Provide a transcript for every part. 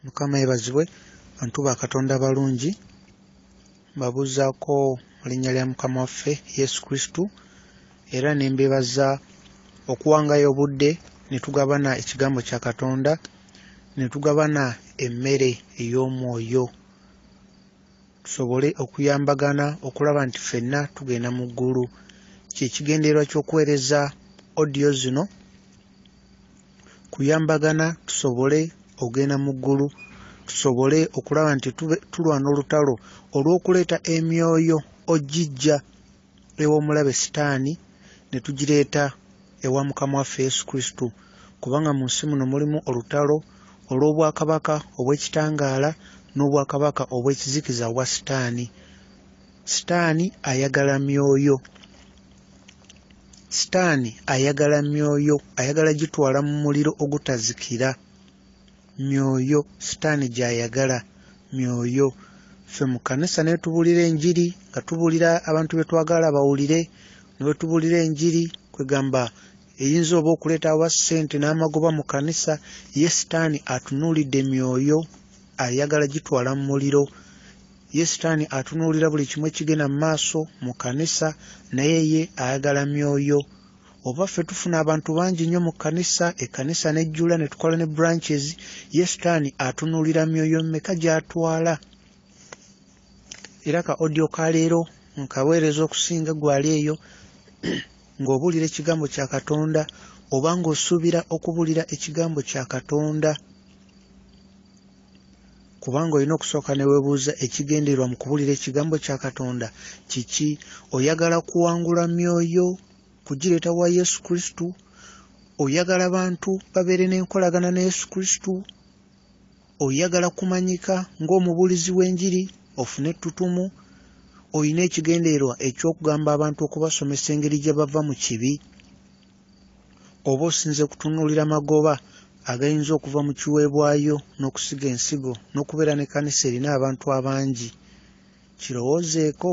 mukama yebazibwe bantu ba katonda abalungi mbabuuzaako mu linnya lya mukama waffe yesu kristu era ne mbebaza okuwangayo obudde ne tugabana ekigambo kya katonda ne tugabana emmere ey'omwoyo tusobole okuyambagana okulaba nti ffenna tugenda mu ggulu kyekigendererwa ky'okuweereza odiyo zino kuyambagana tusobole ogenda mu ggulu tusobole okulaba nti tulwana olutalo olw'okuleeta emyoyo ogijja ew'omulabe sitaani ne tugireeta ewa mukama waffe yesu kristo kubanga mu nsi muno mulimu olutalo olw'obwakabaka obw'ekitangaala n'obwakabaka obw'ekizikiza obwa sitaani sitaani ayagala myoyo sitaani ayagala myoyo ayagala gitwala mu muliro ogutazikira myoyo sitaani gy'ayagala myoyo ffe mu kkanisa naye tubuulira enjiri nga tubuulira abantu be twagala bawulire ne bwe tubuulira enjiri kwegamba eyinza oba okuleeta aba ssente n'amagoba mu kkanisa ye sitaani atunuulidde myoyo ayagala gitwala mu muliro Ye sitaani atunuulira buli kimu ekigenda mu maaso mu kkanisa, naye ye ayagala myoyo. Oba ffe tufuna abantu bangi nnyo mu kkanisa, ekkanisa n'ejjula ne tukola ne branches, ye sitaani atunuulira myoyo mmeka gy'atwala. Era ka audio ka leero nkaweereza okusinga gwali eyo ng'obuulira ekigambo kya Katonda oba ng'osuubira okubuulira ekigambo kya Katonda. kubanga olina okusooka ne weebuuza ekigendererwa mu kubulira ekigambo kya katonda kiki oyagala kuwangula myoyo kugireeta wa yesu kristo oyagala bantu babeere n'enkolagana ne yesu kristo oyagala kumanyika ng'omubuulizi w'enjiri ofune ettutumu olina ekigendererwa eky'okugamba abantu okubasomesa engeri gye bava mu kibi oba osinze kutunuulira magoba agayinza okuva mu kiweebwayo n'okusiga ensigo n'okubeera ne kanisa erina abantu abangi kirowoozeeko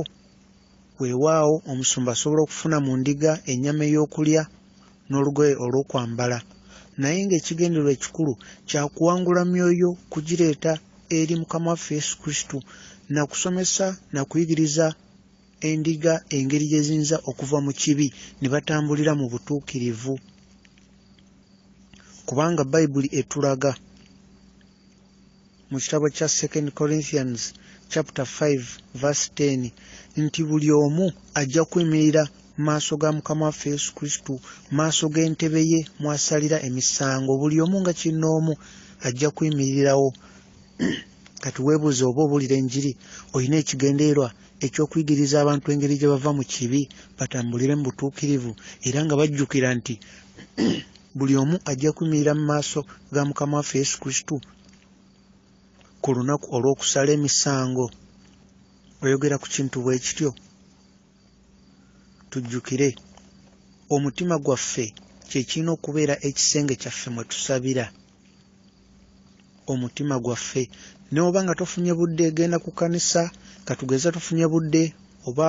weewaawo omusumba asobola okufuna mu ndiga ennyama ey'okulya n'olugoye olw'okwambala naye ng'ekigendererwa ekikulu kya kuwangula myoyo kugireeta eri mukama waffe yesu kristo na kusomesa na kuyigiriza endiga engeri gye ziyinza okuva mu kibi ne batambulira mu butuukirivu kubanga bayibuli etulaga mu kitabo kya second corinthians chapter 5 verse 10 nti buli omu ajja kuyimirira maaso ga mukama waffe yesu kristo maaso g'entebe ye mwasalira emisango buli omu nga kinoomu ajja kuyimirirawo kati webuuza oba obuulira enjiri olina ekigendererwa eky'okuyigiriza abantu engeri gye bava mu kibi batambulire mu butuukirivu era nga bajjukira nti buli omu ajja kuyimirira mu maaso ga mukama waffe yesu kristo ku lunaku olw'okusala emisango oyogera ku kintu bwe kityo tujjukire omutima gwaffe kye kirina okubeera ekisenge kyaffe mwe tusabira omutima gwaffe neoba nga tofunye budde genda ku kanisa katugeza tufunye budde oba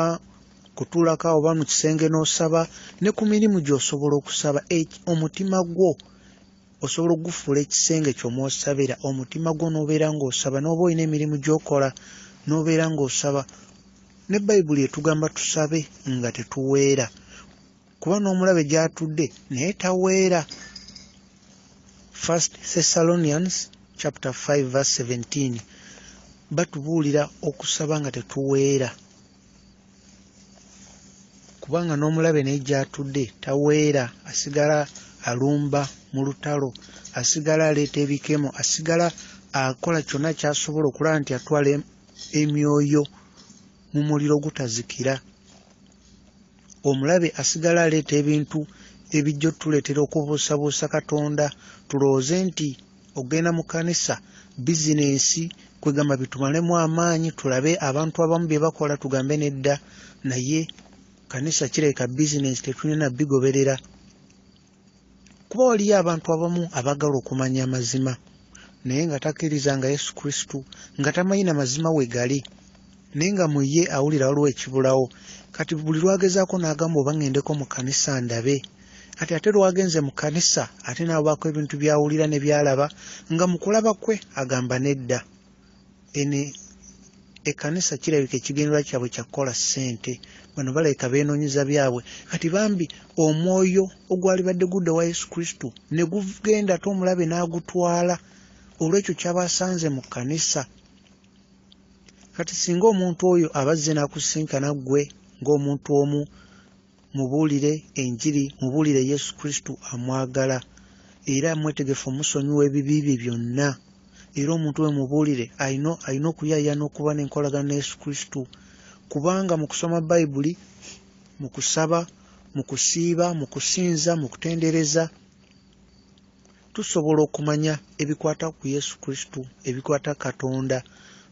kutulaka oba mu kisenge n'osaba ne ku mirimu gy'osobola okusaba omutima gwo osobola okugufuula ekisenge kyomwosabira omutima gwo n'obeera ng'osaba n'oba olina emirimu gy'okola n'obeera ng'osaba ne bayibuli etugamba tusabe nga tetuweera kuba n'omulabe gy'atudde naye taweera first thessalonians chapter 5 verse 17 batubuulira okusaba nga tetuweera kubanga n'omulabe naye gy'atudde taweera asigala alumba mu lutalo asigala aleeta ebikemo asigala akola kyonna kyasobola okulaba nti atwala emyoyo mu muliro gutazikira omulabe asigala aleeta ebintu ebijja otuleetera okubuusabuusa katonda tulowooze nti okugenda mu kanisa bizinensi kwegamba bitumalemu amaanyi tulabe abantu abamu bye bakola tugambe nedda naye kanisa kirabika bizinensi tetulina bigoberera kuba waliyo abantu abamu abagala okumanya amazima naye nga takkiriza nga yesu kristu nga tamanyi na mazima we gali naye nga mu ye awulira waliwo ekibulawo kati buli lwagezaako n'agamba oba ŋŋendeko mu kanisa ndabe kati ate lwagenze mu kanisa ate n'abaako ebintu by'awulira ne by'alaba nga mu kulaba kwe agamba nedda eno ekanisa kirabika ekigendererwa kyabwe kyakukola ssente bano balabika beenoonyeza byabwe kati bambi omwoyo ogwalibadde gudda wa yesu kristo ne gugenda ate omulabe n'agutwala olw'ekyo kyabasanze mu kkanisa kati singa omuntu oyo abazze n'akusinkana ggwe ng'omuntu omu Mubuulire enjiri, mubuulire Yesu Kristo amwagala era mwetegefu omusonyiwa ebibi bye byonna. Era omuntu we mubuulire alina alina okuyaayaana n'okuba n'enkolagana ne Yesu Kristo kubanga mu kusoma Bayibuli, mu kusaba, mu kusiiba, mu kusinza, mu kutendereza tusobola okumanya ebikwata ku Yesu Kristo, ebikwata Katonda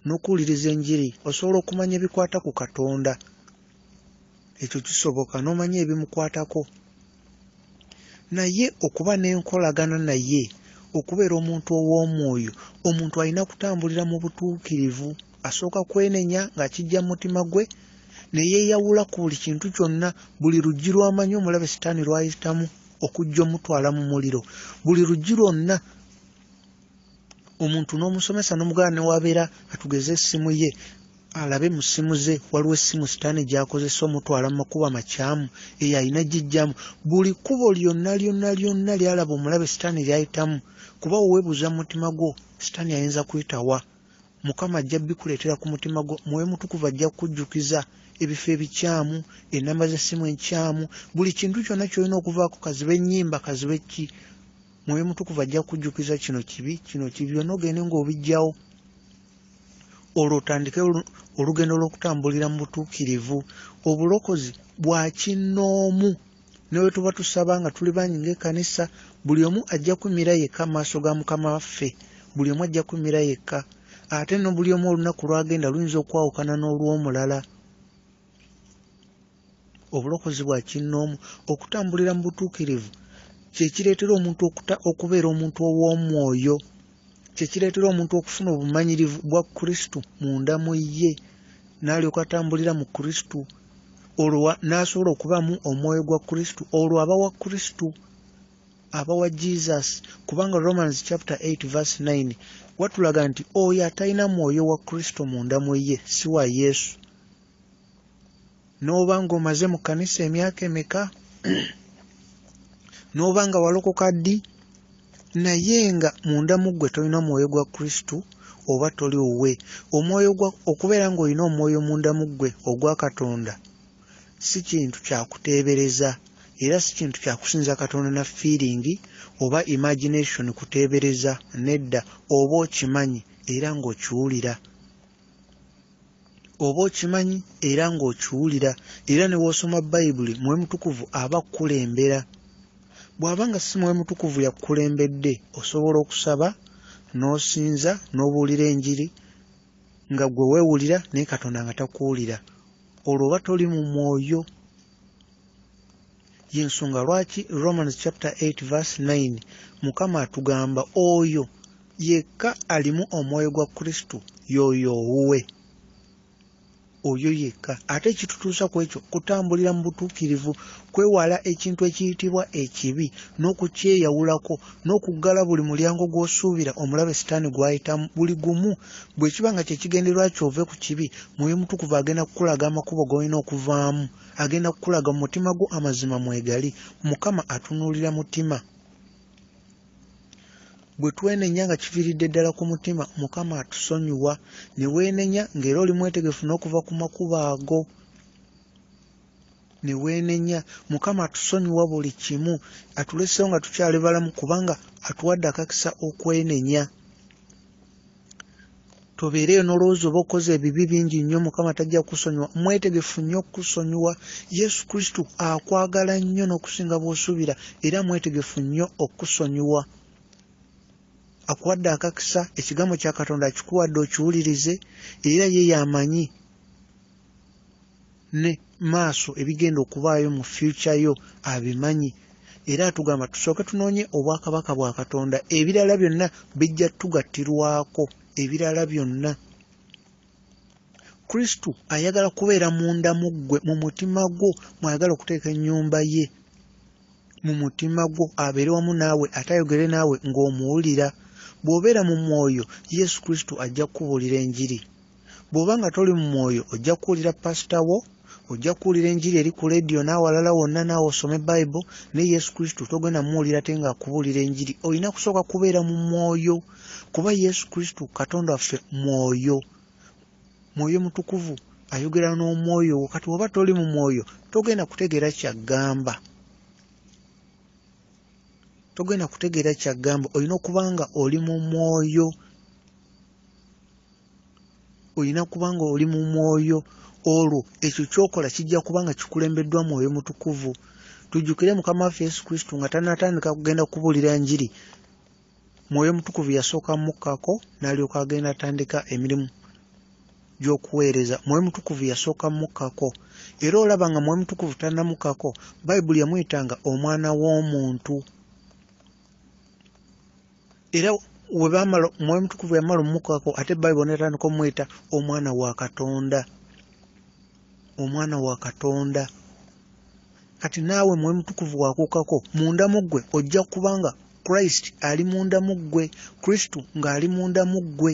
n'okuwuliriza enjiri osobola okumanya ebikwata ku Katonda. ekyo kisoboka n'omanya ebimukwatako naye okuba n'enkolagana naye okubeera omuntu ow'omwoyo omuntu alina kutambulira mu butuukirivu asooka kwenenya ng'akijja mu mutima gwe ne yeeyawula ku buli kintu kyonna buli luggi lw'amanyi omulabe sitaani lw'ayitamu okujja omutwala mu muliro buli luggi lwonna omuntu n'omusomesa n'omuganda newabeera atugeze essimu ye alabe mu ssimu ze waliwo essimu sitaani gyakozesa omutwala mu makubo amakyamu eyo alina gijjamu buli kkubo lyonna lyonna lyonna lyalaba omulabe sitaani lyayitamu kuba weweebuuza mu mutima gwo sitaani ayinza kuyitawa mukama ajja bikuleetera ku mutima gwo mwoyo mutukuvu ajja kukujjukiza ebifo ebikyamu enamba z'essimu enkyamu buli kintu kyonna kyolina okuvaako kaziba ennyimba kaziba ekki mwoyo mutukuvu ajja kujjukiza kino kibi kino kibi byonna ogende ng'obijjawo olwo otandike olugendo lw'okutambulira mu butuukirivu obulokozi bwa kinnoomu newe tuba tusaba nga tuli bangi ngaekanisa buli omu ajja kumira yekka maaso ga mukama waffe buli omu ajja kumira yekka ate no buli omu olunaku lwagenda luyinza okwawukana n'olw'omulala Obulokozi bwa kinnoomu, okutambulira mu butuukirivu, kye kireetera omuntu okuta, okubeera omuntu ow'omwoyo. Kye kireetera omuntu okufuna obumanyirivu bwa Kristo munda mu ye, n'alyoka atambulira mu Kristo, olwo n'asobola okubaamu omwoyo gwa Kristo, olwo aba wa Kristo, aba wa Jesus, kubanga Romans chapter 8 verse 9 watulaga nti oyo atalina mwoyo wa Kristo munda mu ye si wa Yesu. n'oba ng'omaze mu kkanisa emyaka emeka n'oba nga walokoka ddi naye nga munda mu ggwe tolina mwoyo gwa kristo oba toli wuwe omwoyo gwa okubeera ng'olina omwoyo munda mu ggwe ogwa katonda si kintu kyakuteebereza era si kintu kyakusinza katonda na fiiringi oba imagination kuteebereza nedda oba okimanyi era ng'okiwulira oba okimanyi era ng'okiwulira era ne w'osoma bayibuli mwoyo mutukuvu aba kukulembera bw'aba nga si mwoyo mutukuvu yakukulembedde osobola okusaba n'osinza n'obuulira enjiri nga gwe weewulira naye katonda nga takuwulira olwo oba toli mu mwoyo yensonga lwaki romans chapter 8 verse 9 mukama atugamba oyo yekka alimu omwoyo gwa kristo yoyo owuwe oyo yekka ate ekitutuusa ku ekyo kutambulira mu butuukirivu kwewala ekintu ekiyitibwa ekibi n'okukyeyawulako n'okuggala buli mulyango gw'osuubira omulabe sitaani gw'ayitamu buli gumu bwe kiba nga kye kigenderwa kyove ku kibi mwoyo mutukuvu agenda kukulaga amakubo g'olina okuvaamu Agenda kukulaga mu mutima gwo amazima mwegali. Mukama atunulira mutima. Bwe twenenya nga kiviridde ddala ku mutima, Mukama atusonyiwa. Ne weenenya ng'era oli mwetegefu n'okuva ku makubo ago. Ne weenenya. Mukama atusonyiwa buli kimu. Atuleseewo nga tukyali balamu kubanga atuwadde akakisa okwenenya. tobeereyo n'olowooza oba okoze ebibi bingi nnyo mukama tajja kusonyiwa mwetegefu nnyo okusonyiwa yesu kristo akwagala nnyo n'okusinga bw'osuubira era mwetegefu nnyo okusonyiwa akuwadde akakisa ekigambo kya katonda akikuwadde okiwulirize era ye yamanyi ne maaso ebigenda okubaayo mu fyukya yo abimanyi era atugamba tusooke tunoonye obwakabaka bwa katonda ebirala byonna bijja tugattirwako ebirala byonna kristo ayagala kubeera munda mu ggwe mu mutima gwo mwayagala okuteeka ennyumba ye mu mutima gwo abeere wamu naawe ate ayogere naawe ng'omuwulira bw'obeera mu mwoyo yesu kristo ajja kukubuulira enjiri bw'oba nga toli mu mwoyo ojja kuwulira pasita wo ojja kuwulira enjiri eri ku leediyo n'awalala wonna naawe osome bayibo ne yesu kristo togenda muwulira te ng'akubuulira enjiri olina kusooka kubeera mu mwoyo kuba yesu kristo katonda waffe mwoyo mwoyo mutukuvu ayogera n'omwoyo wo kati oba toli mu mwoyo togenda kutegeera kyaggamba togenda kutegeera kyaggamba olina okuba nga oli mu mwoyo olina kuba nga oli mu mwoyo olwo ekyo kyokola kijja kuba nga kikulembeddwa mwoyo mutukuvu tujjukire mukama waffe yesu kristo nga tanatandika kugenda kubuulira njiri mwoyo mutukuvu yasooka mukkako n'alyoka agenda atandika emirimu gy'okuweereza mwoyo mutukuvu yasooka mukkako era olaba nga mwoyo mutukuvu tanamukkako bayibuli yamuyitanga omwana w'omuntu era webamala omwoyo omutukuvu yamala omumukako ate bayibuli netandika omweta omwana wa katonda omwana wa katonda kati naawe mwoyo mutukuvu wakukako munda mu ggwe ojja kuba nga christ ali munda mu ggwe kristu ng'ali munda mu ggwe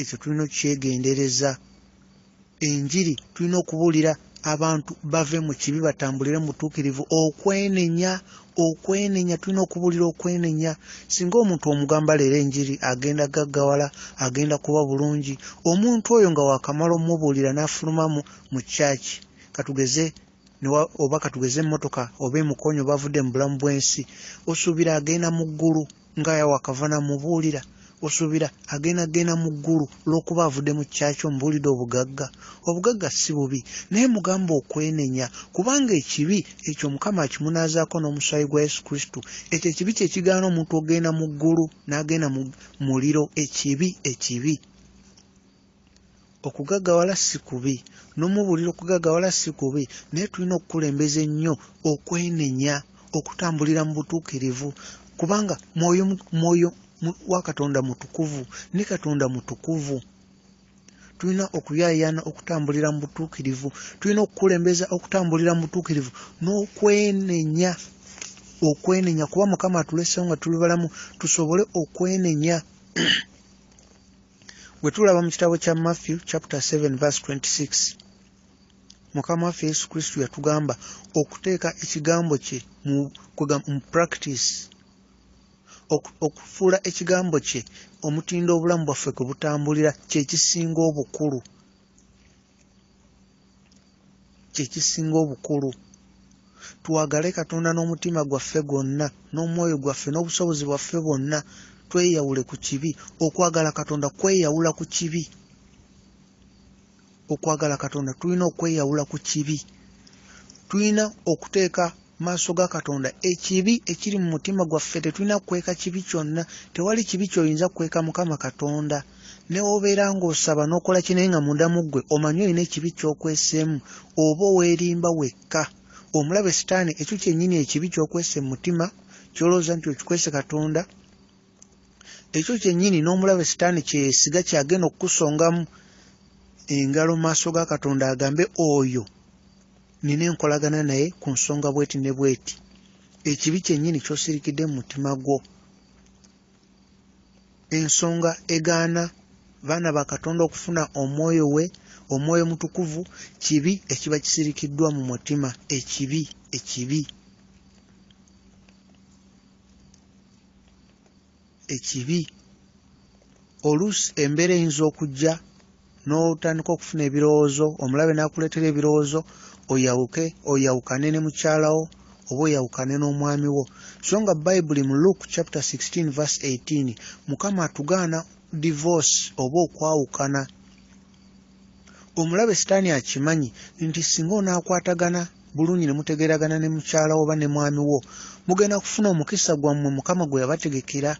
ekyo tulina okukyegendereza enjiri tulina okubuulira abantu bave mu kibi batambulire mu butuukirivu okwenenya okwenenya tulina okubuulira okwenenya singa omuntu omugamba leero enjiri agenda gaggawala agenda kuba bulungi omuntu oyo nga wakamala omubuulira n'afulumamu mu kyaki katugeze oba katugeze emmotoka oba emukonyo bavudde mu bulamu bw'ensi osuubira agenda mu ggulu nga yawe akava namubuulira osuubira agenda genda mu ggulu olw'okuba avudde mu kyakyo mubuulidde obugagga obugagga si bubi naye mugamba okwenenya kubanga ekibi ekyo mukama akimunaazaako n'omusaayi gwa yesu kristo ekyo ekibi kye kigaana omuntu okugenda mu ggulu n'agenda mu muliro ekibi ekibi okugagawala si kubi n'omubuulira okugagawala si kubi naye tulina okukulembeza ennyo okwenenya okutambulira mu butuukirivu kubanga mwoyo mwoyo wa katonda mutukuvu ne katonda mutukuvu tulina okuyaayaana okutambulira mu butuukirivu tulina okukulembeza okutambulira mu butuukirivu n'okwenenya okwenenya kuba mukama atulesewo nga tuli balamu tusobole okwenenya bwe tulaba mu kitabo kya matthew chapter 7 verse 26 mukama waffe yesu kristo yatugamba okuteeka ekigambo kye mu practice okufuula ekigambo kye omutindo obulamu bwaffe kwe butambulira kyekisinga obukulu kyekisinga obukulu twagale katonda n'omutima gwaffe gwonna n'omwoyo gwaffe n'obusobozi bwaffe bwonna tweyawule ku kibi okwagala katonda kweyawula ku kibi okwagala katonda tulina okweyawula ku kibi tulina okuteeka maaso ga katonda ekibi ekiri mu mutima gwaffe tetulina kukweka kibi kyonna tewali kibi kyoyinza kukweka mukama katonda newobeera ng'osaba n'okola kinaye nga mundamu ggwe omanyi olina ekibi kyokweseemu oba oweerimba wekka omulabe sitaani ekyo kyennyini ekibi kyokwese mu mutima kyolowooza nti okikwese katonda ekyo kyennyini n'omulabe sitaani kyesiga kyagenda okukusongamu engalo maaso ga katonda agambe oyo nina enkolagana naye ku nsonga bweti ne bweti ekibi kyennyini kyosirikidde mu mutima gwo ensonga egaana baana ba katonda okufuna omwoyo we omwoyo mutukuvu kibi ekiba kisirikiddwa mu mutima ekibi ekibi ekibi oluusi embeera eyinza okujja n'otandika okufuna ebirowoozo omulabe n'akuleetera ebirowoozo oyawuke oyawukane ne mukyalawo oba oyawukane n'omwami wo so nga bayibuli mu luke chapter 16 verse 18 mukama atugaana divorce oba okwawukana omulabe sitaani akimanyi nti singa onaakwatagana bulungi ne mutegeeragana ne mukyala oba ne mwami wo mugenda kufuna omukisa gwammwe mukama gwe yabategekera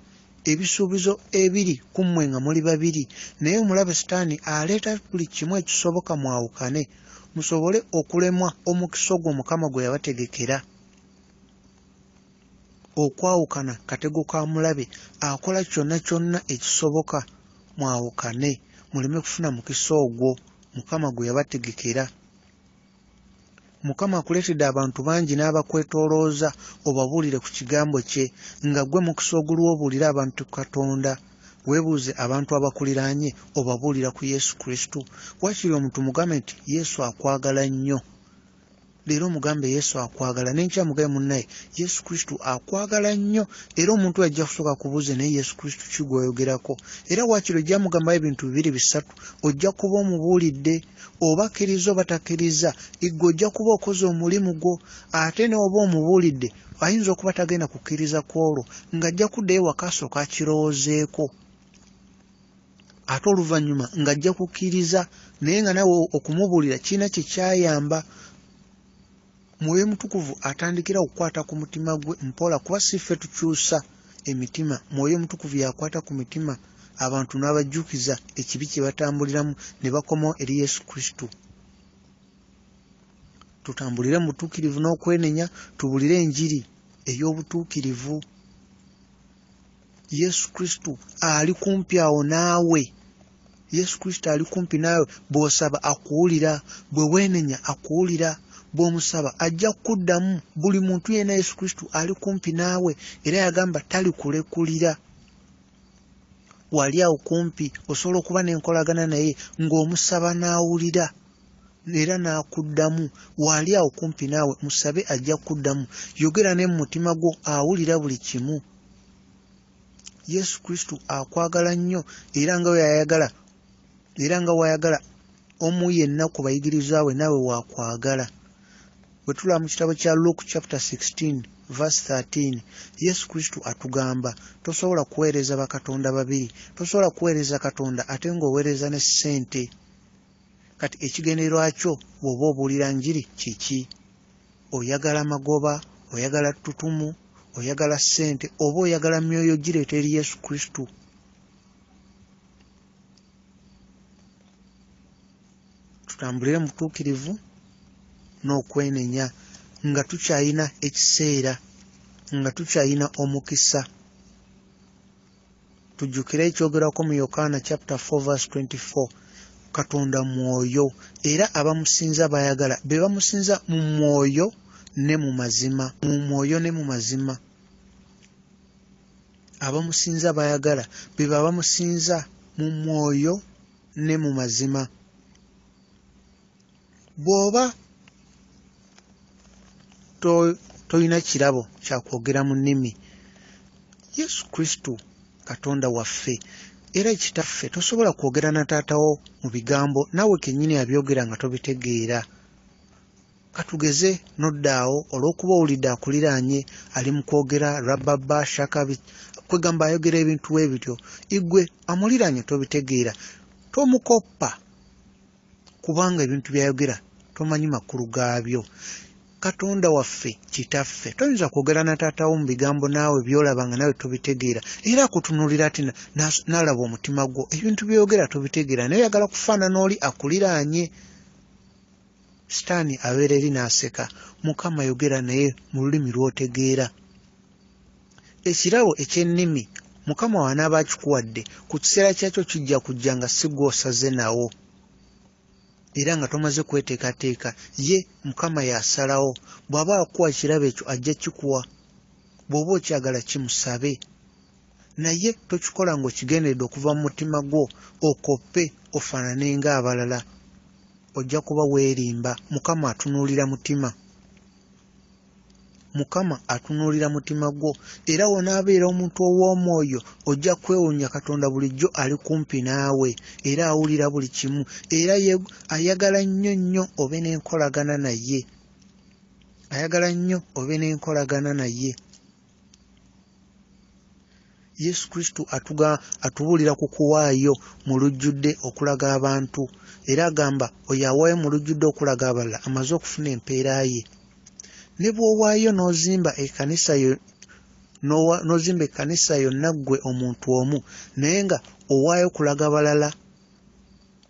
ebisuubizo ebiri ku mmwe nga muli babiri naye omulabe sitaani aleeta buli kimu ekisoboka mwawukane musobole okulemwa omukisa ogwo mukama gwe yabategekera okwawukana katego ka mulabe akola kyonna kyonna ekisoboka mwawukane muleme kufuna mukisa ogwo mukama gwe yabategekera mukama akuleetedde abantu bangi n'abakwetoolooza obabuulire ku kigambo kye nga gwe mukisa oguliwo obuulire abantu katonda weebuuze abantu abakuliraanye obabuulira ku yesu kristo wakiri omuntu mugambe nti yesu akwagala nnyo leero mugambe yesu akwagala nenkya mugabe munnaye yesu kristo akwagala nnyo era omuntu ajja kusooka kubuuze naye yesu kristo ki gwoyogerako era waakiri ojja mugambayo ebintu bibiri bisatu ojja kuba omubuulidde oba akkiriza oba takkiriza igwe ojja kuba okoze omulimu gwo ate neoba omubuulidde ayinza okuba tagenda kukkiriza kwolwo ng'ajja kuddayo wakaasooka akirowoozeeko ate oluvannyuma ng'ajja kukkiriza naye nga nawe okumubuulira kirina kye kyayamba mwoyo mutukuvu atandikira okukwata ku mutima gwe mpola kuba si ffe tukyusa emitima mwoyo mutukuvu yakwata ku mitima abantu n'abajjukiza ekibi kye batambuliramu ne bakomawo eri yesu kristo tutambulire mu butuukirivu n'okwenenya tubulire enjiri ey'obutuukirivu yesu kristo ali kumpi awo naawe yesu kristo ali kumpi naawe bw'osaba akuwulira bwe weenenya akuwulira bw'omusaba ajja kukuddamu buli muntu yena yesu kristo ali kumpi naawe era yagamba talikulekulira wali awo kumpi osobola okuba n'enkolagana naye ng'omusaba n'awulira era n'akuddamu waali awo kumpi naawe musabe ajja kukuddamu yogera ne mu mutima gwo awulira buli kimu yesu kristo akwagala nnyo era nga weyayagala era nga wayagala omu yenna ku bayigiriza we naawe wakwagala bwe tulaba mu kitabo kya luke chapter 16 verse 13 yesu kristo atugamba tosobola kuweereza bakatonda babiri tosobola kuweereza katonda ate ng'oweereza ne ssente kati ekigendererwa kyo bw'oba obuulira njiri kiki oyagala magoba oyagala ttutumu oyagala ssente oba oyagala myoyo gireeta eri yesu kristo tutambulire mu butuukirivu n'okwenenya nga tukyalina ekiseera nga tukyalina omukisa tujjukire ekyogerwako mu yokaana chapter 4 verse 24 katonda mwoyo era abamusinza bayagala be bamusinza mu mwoyo ne mu mazima mu mwoyo ne mu mazima abamusinza bayagala be babamusinza mu mwoyo ne mu mazima bw'oba tolina kirabo kya kwogera mu nnimi yesu kristo katonda waffe era kitaffe tosobola kwogera na taatawo mu bigambo naawe kennyini abyogera nga tobitegeera katugeze noddaawo olw'okuba owulidde akuliraanye ali mu kwogera rababa shakabi kwegamba ayogera ebintu we bityo igwe amuliraanye tobitegeera tomukoppa kubanga ebintu byayogera tomanyi makulu gaabyo katonda waffe kitaffe toyinza kwogera na taatawo mu bigambo naawe byolaba nga nawe tobitegeera era akutunulira ati nalaba omutima gwo ebintu byoyogera tobitegeera naye oyagala kufaanana oli akuliraanye sitaani abeera eri n'aseka mukama yogera naye mu lulimi lw'otegeera Ekirabo eky'ennimi Mukama wo anaaba akikuwadde, ku kiseera kyakyo kijja kujja nga si gw'osaze nawo era nga tomaze kweteekateeka. Ye Mukama y'asalawo. Bw'aba akuwa ekirabo ekyo ajja kikuwa. Bw'oba okyagala kimusabe. Naye tokikola ng'okigenderedde okuva mu mutima gwo okoppe ofaanane ng'abalala. Ojja kuba weerimba. Mukama atunuulira mutima. mukama atunuulira mutima gwo era wonaabeera omuntu ow'omwoyo ojja kwewuunya katonda bulijjo ali kumpi naawe era awulira buli kimu era ayagala nnyo nnyo obe n'enkolagana naye ayagala nnyo obe n'enkolagana naye yesu kristo atuga atubuulira ku kuwaayo mu lujjudde okulaga abantu era agamba oyo awaayo mu lujjudde okulaga abalala amaze okufuna empeera ye ne bw'owaayo n'ozimba ekanisa yo n'ozimba ekkanisa yonna ggwe omuntu omu naye nga owaayo kulaga balala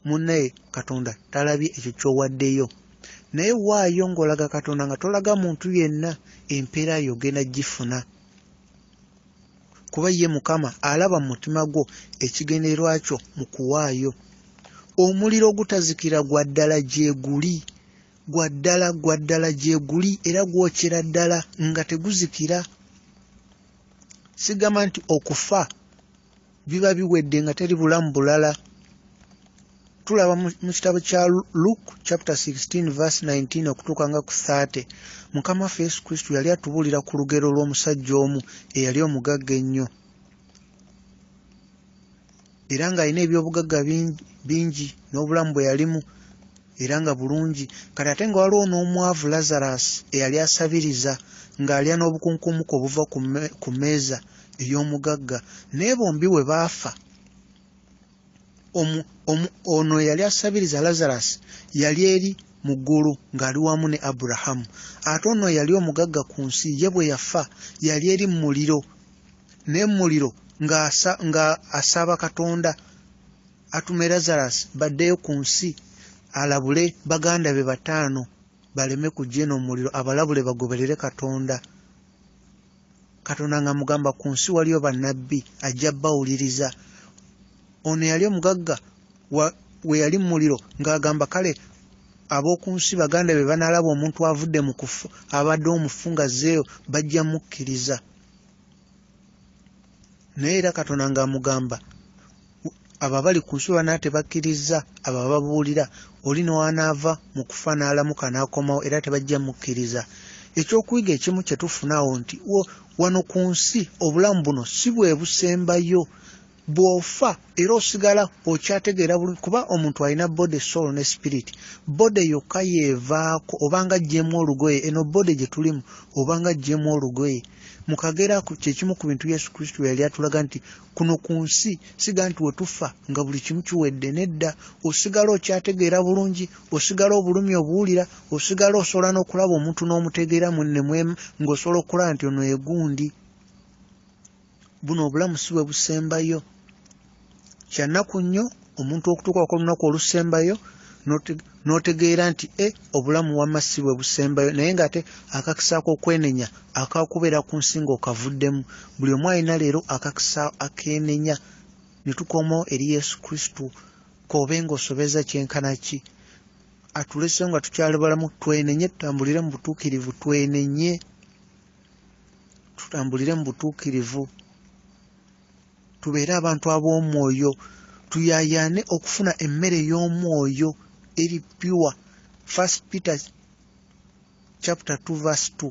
munnaye katonda talabye ekyo kyowaddeyo naye waayo ng'olaga katonda nga tolaga muntu yenna empeera yo ogenda gifuna kuba ye mukama alaba mu mutima gwo ekigendererwa kyo mu kuwaayo omuliro ogutazikira gwa ddala gyeguli gwa ddala gwa ddala gyeguli era gwokyera ddala nga teguzikira sigamba nti okufa biba biwedde nga teri bulamu bulala tulaba mu kitabo kya luke chapter 16 verse 19 okutuuka nga ku 30 mukama waffe yesu kristo yali atubuulira ku lugero lw'omusajja omu eyali omugagga ennyo era ng'alina ebyobugagga bingi n'obulamu bwe yalimu era nga bulungi kati ate nga waliwo n'omwavu lazarus eyali asabiriza ng'alya n'obukunkumuka obuva ku meeza ey'omugagga naye bombi we baafa ono eyali asabiriza lazarus yali eri mu ggulu ng'ali wamu ne aburahamu ate ono yali omugagga ku nsi ye bwe yafa yali eri mu muliro naye mu muliro ng'asaba katonda atume lazarus baddeyo ku nsi alabule baganda be bataano baleme kujja eno omuliro abalabule bagoberere katonda katonda nga mugamba ku nsi waliyo bannabbi ajja bawuliriza ono yali omugagga we yali mu muliro ng'agamba kale ab'oku nsi baganda be banaalaba omuntu avudde mu kufu abadde omufu nga zeeyo bajja mukkiriza naye era katonda ngaamugamba abo abali ku nsi banaa tebakkirizza abo ababuulira oli newanaava mu kufa n'alamuka n'akomawo era tebajja mukkiriza ekyokuyiga ekimu kye tufuna awo nti wano ku nsi obulamu buno si bwe busembayo bw'ofa era osigala okyategeera bulungi kuba omuntu alina body soul ne spirit body yokka yeevaako obanga ajjemu olugoye eno body gye tulimu obanga ajjemu olugoye mukagera kyekimu ku bintu yesu kristo yali atulaga nti kuno ku nsi siga nti wetufa nga buli kimu kiwedde nedda osigala okyategeera bulungi osigala obulumi obuwulira osigala osobola n'okulaba omuntu n'omutegeera munne ngaosobola okulaba nti ono egundi buno obulamu si bwe busembayo kyannaku nnyo omuntu okutuuka ku lunaku olusembayo n'otegeera nti e obulamu wamma si bwe busembayo naye ng'ate akakisa ak'okwenenya akakubeera ku nsi ng'okavuddemu buli omu alina leero akakisa akeenenya ne tukomawo eri yesu kristo koobe ng'osobeza kyenkana ki atulesewo nga tukyali balamu twenenye tutambulire mu butuukirivu twenenye tutambulire mu butuukirivu tubeere abantu ab'omwoyo tuyaayaane okufuna emmere y'omwoyo eri pure first peter chapter 2 verse 2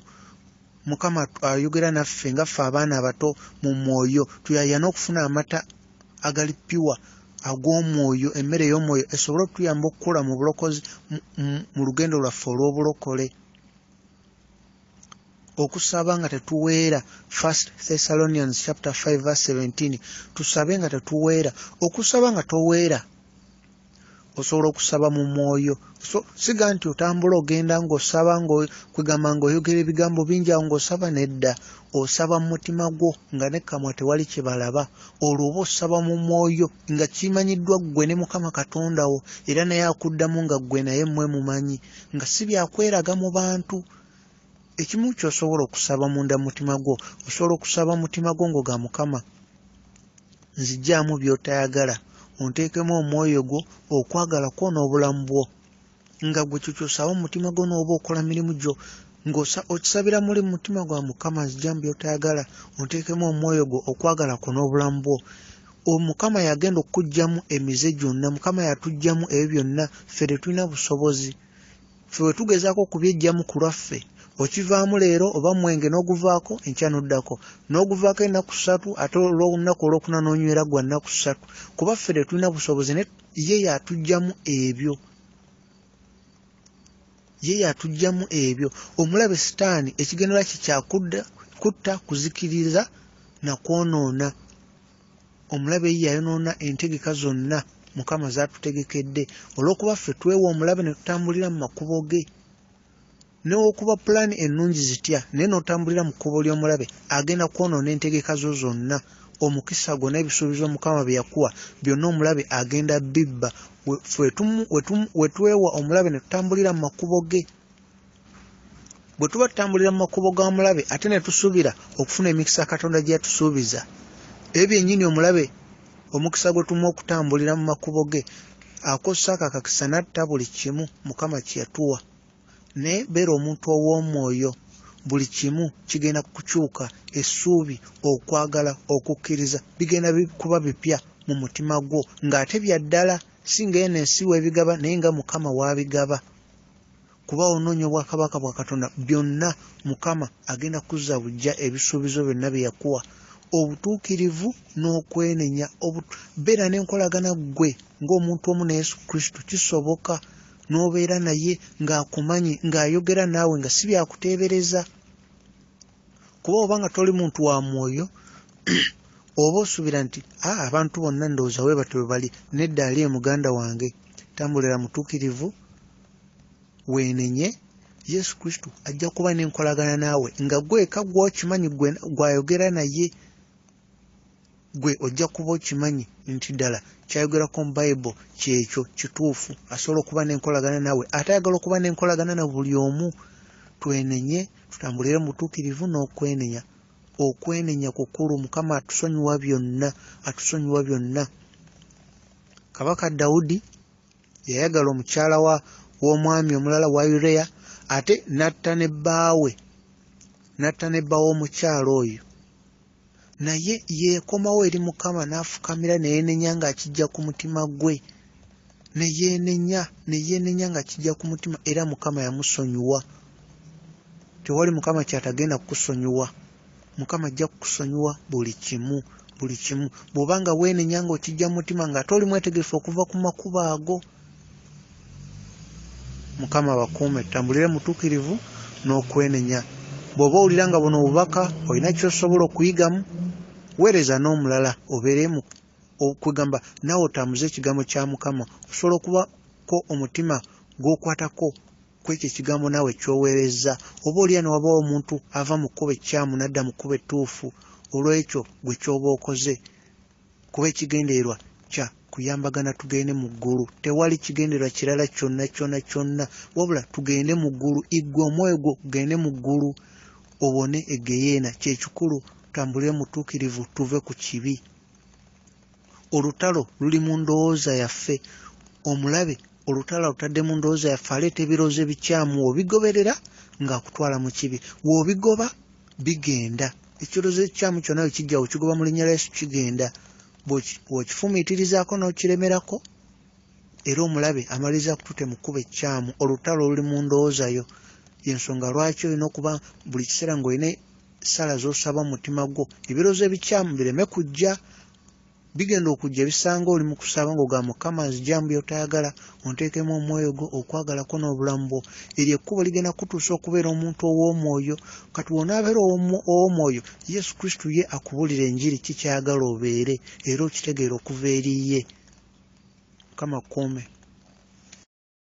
mukama ayogera naffe nga ffe abaana abato mu mwoyo tuyaayaane okufuna amata agali pure ag'omwoyo emmere y'omwoyo esobole okutuyamba okukula mu bulokozi mu lugendo lwaffe olw'obulokole okusaba nga tetuweera first thessalonians chapter 5 verse 17 tusabe nga tetuweera okusaba nga toweera osobola okusaba mu mwoyo so siga nti otambula ogenda ngaosaba ngakwegamba ngaoyogera ebigambo bingi awo ngaosaba nedda osaba mu mutima gwo nga nekamwa tewali kyebalaba olwo oba osaba mu mwoyo nga kimanyiddwa ggwe ne mukama katonda wo era naye akuddamu nga ggwe naye mmwe mumanyi nga si byakweraga mu bantu ekimu kyosobola okusaba munda mutima gwo osobola okusaba mutima gwo ngo ga mukama nzijaamu byotayagala onteekemu omwoyo gwo okwagala kwona obulamu bwo nga gwe kyukyusawo omutima gwo nooba okola mirimu gyo ng'okisabira muli mu mutima gwa mukama nzija mu byotayagala onteekemu omwoyo gwo okwagala kwo n'obulamu bwo omukama yagenda okukugyamu emize gyonna mukama yatugyamu ebyo byonna ffe tetulina busobozi ffe bwe tugezaako okubyejjamu ku lwaffe okivaamu leero oba mwenge n'oguvaako enkya n'oddako n'oguvaako ennaku ssatu ate olw'olunaku olwokuna n'onywera gwa nnaku ssatu kuba ffe tetulina busobozi ye yatujjamu ebyo ye yatujjamu ebyo omulabe sitaani ekigendera kye kyakudda kutta kuzikiriza na kwonoona omulabe ye yayonoona entegeka zonna mukama zatutegekedde olw'okuba ffe twewa omulabe ne tutambulira mu makubo ge Newokuba pulaani ennungi zitya naye n'otambulira mu kkubo ly'omulabe, agenda kwonoona entegeka zo zonna. Omukisa gwo n'ebisuubizo Mukama bye yakuwa byonna omulabe agenda bibba. We twewa omulabe ne tutambulira mu makubo ge. Bwe tuba tutambulira mu makubo ga mulabe ate ne tusuubira okufuna emikisa Katonda gye yatusuubiza, ebyo byennyini omulabe omukisa gwe tumuwa okutambulira mu makubo ge, akozesa ako akakisa n'atta buli kimu Mukama kye yatuwa. naye beera omuntu ow'omwoyo buli kimu kigenda kukyuka essuubi okwagala okukkiriza bigenda kuba bipya mu mutima gwo ng'ate bya ddala si nga eno ensi w'ebigaba naye nga mukama w'abigaba kuba onoonya obwakabaka bwa katonda byonna mukama agenda kuzza bujja ebisuubizo byonna bye yakuwa obutuukirivu n'okwenenya beera n'enkolagana ggwe ng'omuntu omu ne yesu kristo kisoboka n'obeera naye ng'akumanyi ng'ayogera naawe nga si byakuteebereza kuba oba nga toli muntu wa mwoyo oba osuubira nti a ah, abantu bonna ndowooza we batyo bwe bali nedda ali e muganda wange tambulira mutuukirivu weenenye yesu kristo ajja kuba n'enkolagana naawe nga gweka gwokimanyi gwayogera naye gwe ojja kuba okimanyi nti ddala kyayogerako mu bible kyekyo kituufu asobola okuba n'enkolagana nawe ate ayagala okuba n'enkolagana na buli omu twenenye tutambulire mu butuukirivu n'okwenenya okwenenya kukulu mukama atusonyiwa byonna atusonyiwa byonna kabaka dawudi yayagala omukyala wa w'omwami omulala wa ureya ate n'atta ne bbaawe n'atta ne bba w'omukyala oyo naye yeekomawo eri mukama n'afukamira ne yeenenya ng'akijja ku mutima gwe ne yeenenya ne yeenenya nga kijja ku mutima era mukama yamusonyiwa tewali mukama kyatagenda kukusonyiwa mukama ajja kukusonyiwa buli kimu buli kimu bw'oba nga weenenya ng'okijja mu mutima ng'ate oli mwetegefu okuva ku makubo ago mukama abakuume tutambulire mutukirivu n'okwenenya bw'oba owulira nga buno obubaka olina kyosobola okuyigamu weereza n'omulala obeeremu okwegamba naawe otambuze ekigambo kya mukama osobola okubako omutima gw'okwatako kwekyo ekigambo naawe kyoweerezza oba olya ne wabawo omuntu ava mu kkuba ekkyamu nadda mu kkuba ettuufu olw'ekyo gwe kyoba okoze kuba ekigendererwa kya kuyambagana tugende mu ggulu tewali kigendererwa kirala kyonna kyonna kyonna wabula tugende mu ggulu iggwe omwoyo gwo gugende mu ggulu obone egeyeena kyekikulu tambule mutuukirivu tuve ku kibi olutalo luli mu ndowooza yaffe omulabe olutalo alutadde mu ndowooza yaffe aleeta ebirowoozo ebikyamu obigoberera ng'akutwala mu kibi woobigoba bigenda ekirowoozo ekikyamu kyonna we kijjawo kigoba mu linnya lya yesu kigenda bw'okifumiitirizaako n'okiremerako era omulabe amaliriza kutute mu kkuba ekkyamu olutalo oluli mu ndowooza yo yensonga lwaki olina okuba buli kiseera ng'olina essaala z'osaba mu mutima gwo ebirowoozo ebikyamu bireme kujja bigenda okujja bisanga oli mukusaba ngo ga mukama nzijamu byotayagala ontekemu omwoyo gwo okwagala ko n'obulamu bwo eryo ekkubo ligenda kutuusa okubeera omuntu ow'omwoyo kati wonaabeera ow'omwoyo yesu kristo ye akubulira enjiri kikyayagala obeere era okitegeera okuva eriye mukama kuume